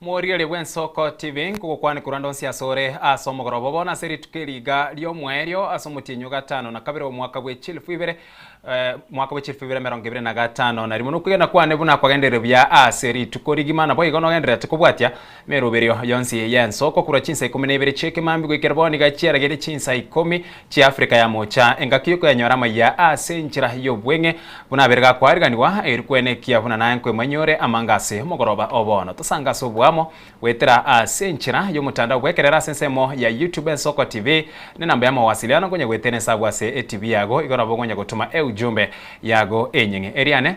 Morigererie bw'ensoko tibi nkogokwane korwa ndonsi asore ase omogoroba, bono ase rituko eri iga ri'omoerio ase omotienyi o gatano na kabere omwaka bwe chilifu ibere, mwaka bwe chilifu ibere emerongo ebere na gatano na rimo, nokwegena kwane buna kwagenderire buya ase rituko rigima, naboigo nogendererete kobwatia emeroberio yonsi y'ensoko korwa chinsa ikomi na ibere chi'ekemambia goikera bono iga chiarageire chinsa ikomi, Chiafrika ya mocha, engaki y'okoyanyora amaiya aase enchera y'obweng'e buna abere gakoariganigwa, eri kwene ekiya buna naye nkoimanyore amanga ase omogoroba o bono. Tosange ase oboamo, goetera aase enchera y'omotandao bw'ekerero ase ensemo ya YouTube Ensoko TV nenamba ya mawasiliano nkonya goetera esabu ase etibi yago igo nabo okonya gotuma eujumbe yago enyeng'e. Eriane.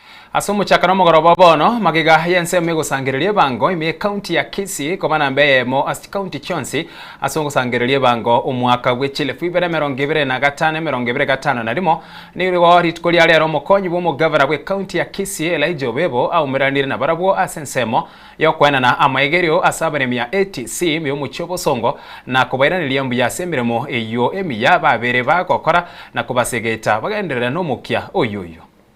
Ase omochaka na omogoroba o bono, magega y'ensemo egosangereria ebango ime y'Ekaunti ya Kisii koba namba eyemo ase chikaunti chionsi ase ogosangereria ebango omwaka bwe chielfu ibere emerongo ebere na gatano emerongo ebere gatano na rimo. Nigo rituko ria rero omokonyi bw'omogavana bw'Ekaunti ya Kisii Elijah Obebo aumeraneire nabarabwo ase ensemo y'okoenana amaegerio ase abaremi ya ATC ime y'omochie obosongo na kobairaneria mbuya ase emeremo eyio emiya babeire bagokora na kobasegeta bagenderere nomokia oyoyio.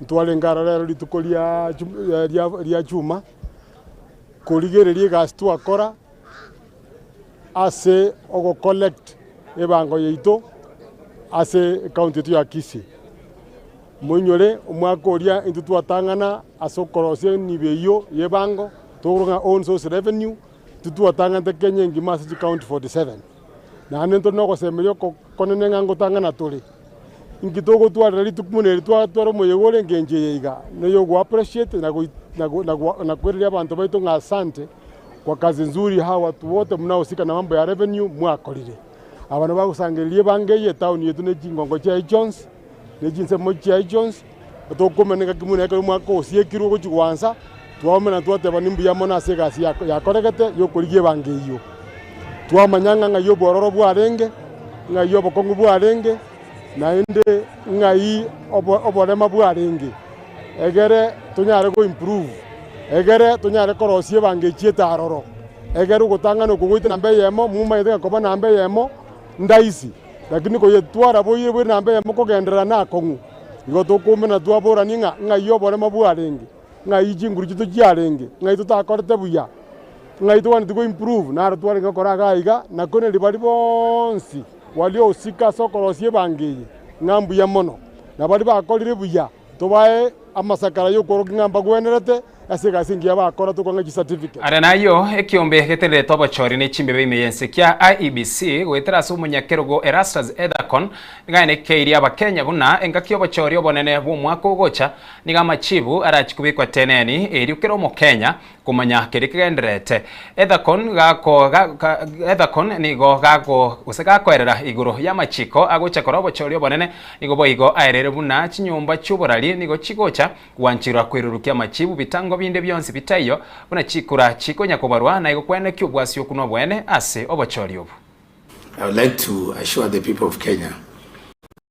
Ntwarenge aro rero rituko ria chuma, korigereria egasi twakora ase ogocollect ebango yaito ase ekaunti yaito ya Kisii. Moinyore omwaka oria intwe twatang'ana ase okorosia emibe eyio y'ebango, tokoroka ng'a own source revenue, intwe twatang'anete Kenya engima ase chikaunti forty seven. Naende ntore nogosemeria okonene ng'a ngotang'ana tore. Inki togotwarera rituko buna eri twatwara omoyega ore engencho eye iga, noyogoappreciate na koireria abanto baito ng'a asante kwa kazi nzuri how watu wote mnahusika na mambo ya revenue mwakorire. Abana bagosangereria ebango eye, etaoni yetu ne chingongo chiaye chionsi. ne chinsemo chiaye chionsi, na tokomeneka kimwe na ekero omwaka ogosiekirwe ogochia goansa, twaumera na twateba nimbuya mono ase egasi yakoregete y'okorigia ebango eyio. Twamanya ng'a ng'ai obwororo bwarenge, ng'ai obokong'u bwarenge, naende ng'ai oborema bwarenge, egere tonyare goimprove, egere tonyare korosia ebango echiete aroro, egere ogotang'ana okwo goetera namba eyemo, momanyete ng'a koba namba eyemo ndaisi. Lakini koyetwara boiire bwe namba eyemo kogenderera nakong'u, igo tokoumena twaborani ng'a ng'ai oboremo bwarenge, ng'ai chinguru chito chiarenge, ng'ai totakorete buya, ng'ai togwenereti goimprove, naro twarenge gokora iga aiga, na kore ribaga riria bonsi gwaria ogosika ase okorosia ebango eye ng'a mbuya mono, na baria bakorire buya. Tobae amasakara y'okworokia ng'a mbagwenerete ase egasi engiya bakora, tokwa ng'a chicertificate. Aria nayio, ekiombe getenderete obochori ne chimbebe ime y'ense kia IEBC goetera ase omonyakerogo Erastus Ethacon nigo ainekeirie Abakenya buna engaki y'obochori obonene bw'omwaka ogocha. Nigo amachibu arachie kobekwa teneni, erio kera Omokenya Komanya keria kegendererete Ethakon gako ga ga Ethakon nigo gago gose gakoerera igoro y'amachiko agocha kora obochoria obonene, nigo boigo aerere buna chinyomba chi'oborari nigo chigocha gwanchirwa kwerurukia amachibu bitango binde bionsi bitaiyo buna chikura chikonya kobarwa na igo kwene ki obwasioku nobwene ase obochoria obo. I would like to assure the people of Kenya.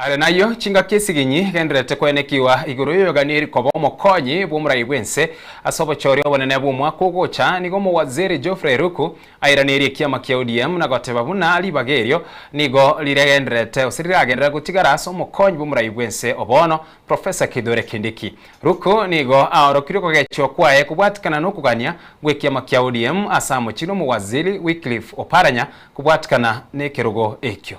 Are nayio, chingaki esiginyi egendererete koenekigwa igoro y'oyoganieri koba omokonyi bw'omorai bw'ense ase obochori obonene bw'omwaka ogocha, nigo omowaziri Geoffrey Ruku airanerie ekiama kia ODM na goteba buna ribaga erio nigo riregendererete gose riragenderera gotigara ase omokonyi bw'omorai bw'ense o bono, Professor Kithure Kindiki. Ruku nigo aorokirie okogechwa kwaye kobwatikana nokogania gw'ekiama kia ODM ase amochie nomowaziri Wycliffe Oparanya kobwatikana nekerogo ekio.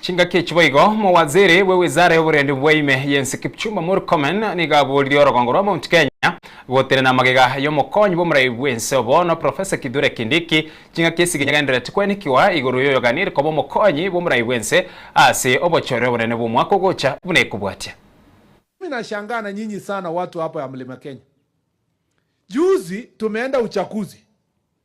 Chingaki echi boigo, Mowaziri bwe Wizara y'oborendi bwa ime y'ense Kipchumba Murkomen nigo aboririe orogongo rwa Mount Kenya gotenena na magega y'omokonyi bw'omoraia bw'ense o bono Professor Kithure Kindiki chingaki ase eginyagendereti kwenekigwa igoro y'oyoganire koba omokonyi bw'omoraia bw'ense ase obochore obonene bw'omwaka ogocha buna ekobwatia Mimi nashangaa na nyinyi sana watu hapa ya mlima Kenya. Juzi tumeenda uchaguzi.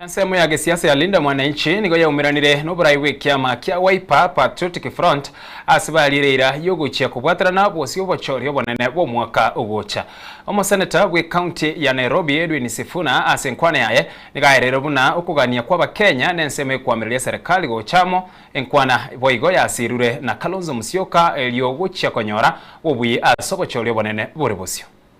Ensemo ya gesiasa ya Linda Mwananchi nigo yaumeranire noborai bw'ekiama kia Wiper Patriotic Front ase bariire eira y'ogochia kobwaterana bosio obochori obonene bw'omwaka ogocha. Omoseneta bwe county ya Nairobi Edwin Sifuna ase enkwana yaye nigo aereire buna okogania kw'abakenya nensemo ekoamereria serikali gocha amo enkwana boigo yasirure na Kalonzo Musyoka erio gochia konyora obuya ase obochori obonene bore bosio.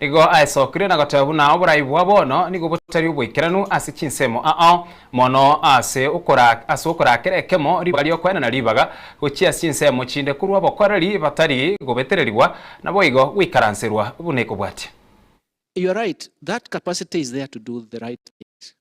Igo aesokire na goteba buna oborai bwa bono nigo botari oboikeranu ase chinsemo aao mono ase ase okorakera ekemo ribaga ri'okwenena ribaga gochia ase chinsemo chinde korwa obokoreri batari gobetererigwa naboigo goikaranserwa buna ekobwatia. You're right that capacity is there to do the right things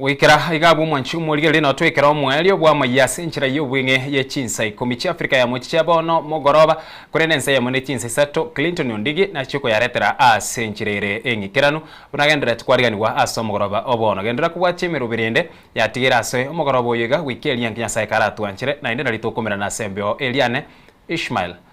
Goikera iga abwo omwanchi omorigereria notwekera omoerio bw'amayia ase enchera y'obweng'e ye chinsa ikomi chi'Afrika ya mochiche bono mogoroba, korende ensa eyemo ne chinsa isato Clinton Ondigi nachie koyaretera ase enchera ere eng'ikeranu buna genderereti kwariganigwa ase omogoroba o bono. Genderera kobwatia emerobo erende yatigeire ase omogoroba oyo iga goika eria inki Nyasae karatwanchere naende nari tokomerana ase embeo eria Anne Ishmael